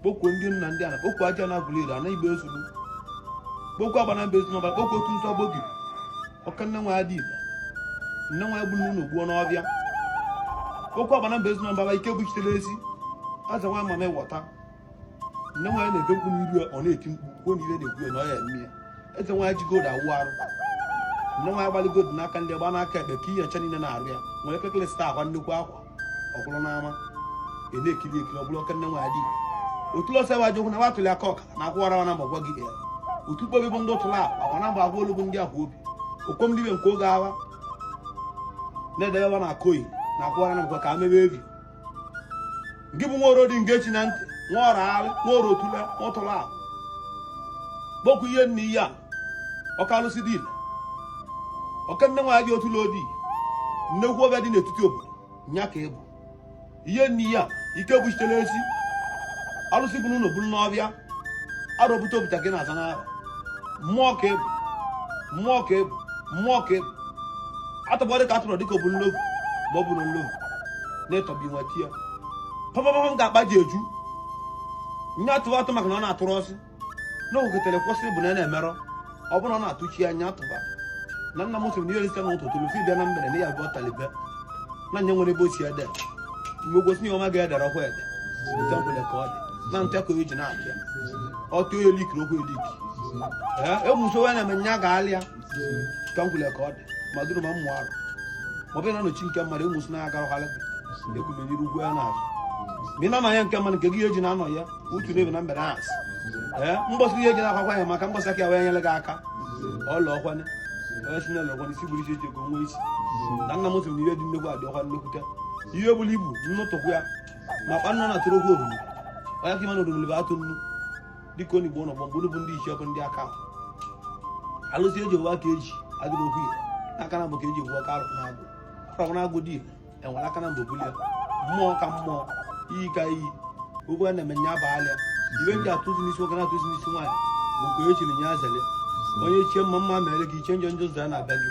kpọkuo ndị nna ndị ana kpọkuo aja na abụliri ana igbe ezuru kpọkuo agbana mba ezuru ọbara kpọkuo otu nsọ gbogi ọka nne nwa adị igbo nne nwaanyị gburu n'ụlọ gbuo n'ọbịa kpọkuo agbana mba ezuru ọbara ike buchitere ezi aza nwa mami wọta nne nwaanyị na-ebe mkpu n'iru ya ọ na-eti mkpu kwuo na ibe na-ekwu ya na ọ ya eme ya eze nwaanyị ji gold awụ arụ nne nwaanyị gbalụ gold n'aka nri gba n'aka ekpe ka ihe ncha niile n'arụ ya nwere kekele sita akwa nnukwu akwa ọ bụrụ n'ama ị na-ekiri ekiri ọ bụrụ ọka nne nwa adị otu ọsọ ewe ajụkwụ na wa tụli aka ọka na akwụwara wa na mgbe gwa gị ya otu kpobi bụ ndị ụtụla akwa na mgbe agwa olugbu ndị ahụ obi okom dibe nke oge agha na-edebe wa na akoyi na akwụwara na mgbe ka a mebe ebi nke bụ nwa oro dị nke chi na ntị nwa ọrụ alụ nwa oro otula nwa ụtụla akwa kpọkuo ihe nne ihe a oke alụsị dị ile oke nne nwaanyị dị otu lodi nnekwu ọbịa dị n'etiti obodo nya ka ị bụ ihe nne ya ike buchitere ezi alụsị bụ n'ụlọ bụrụ n'ọbịa arọpụta obuta gị na-aza n'ahụ mmụọ ka ị bụ mmụọ ka ị bụ mmụọ ka ị bụ atọgbọ dịka atụrụ dịka obu nlogu ma ọ bụ na nlogu na-etọbi nwa ti ya papa m ga-akpa ji eju nye atụrụ atụ maka na ọ na-atụrụ ọsị n'ogotere kwụsị bụ na na-emerọ ọ bụrụ na atụchi anya atụba na nna m sịrị na ihe rite na ụtụtụ rufi bịa na mgbede na ya abụọ talibe na onye nwere ebe ochie ede mgbe gosi ihe ọma ga-edere ọkwa ede otu nkwele ka ọ dị na nte ka o ji na-abịa ọtụ onye likiri okwu eliki amusu wee na-eme nya ga-alịa ka nkwele ka ọ dị ma duru ma mmụọ arụ ma ọ bụrụ na nọchi nke mmadụ amusu na-agara ọhalị egwumere iru ugwu ya na-azụ ma ị na-anọ ya nke mmadụ nke gị eji na-anọ ya utu n'ebe na mgbede asị ee mgbọsị ihe eji na-akwakwa ya maka mgbọsị aka ya wee nyere gị aka ọla ọkwanye onye si n'ụlọ ọkwanye isi bụrụ isi eji ego nwa isi na nna m sị na ihe dị nnekwu adị ọkwa nnekwute ihe bụrụ ibu nnụtụkwu ya ma kpa nna na-atụrụ okwu oruru onye ka ịma na oruru bụ atụ nnu dịka onye igbo n'ọgbọ mgbe bụ ndị ichie bụ ndị aka alụsị eji owe aka eji agụrụ okwu ya aka na mbụ ka eji ewu ọka arụ na agụ arụ na agụ dị enwere aka na mba obulie mmụọ ka mmụọ iyi ka iyi okwu a na-eme nya bụ alịa iwe ndị atụzi n'isi nwoke na-atụzi n'isi nwaanyị bụ ka e chiri nya zele onye chie mma mma mere gị i chie njọ njọ zaa na-abịa gị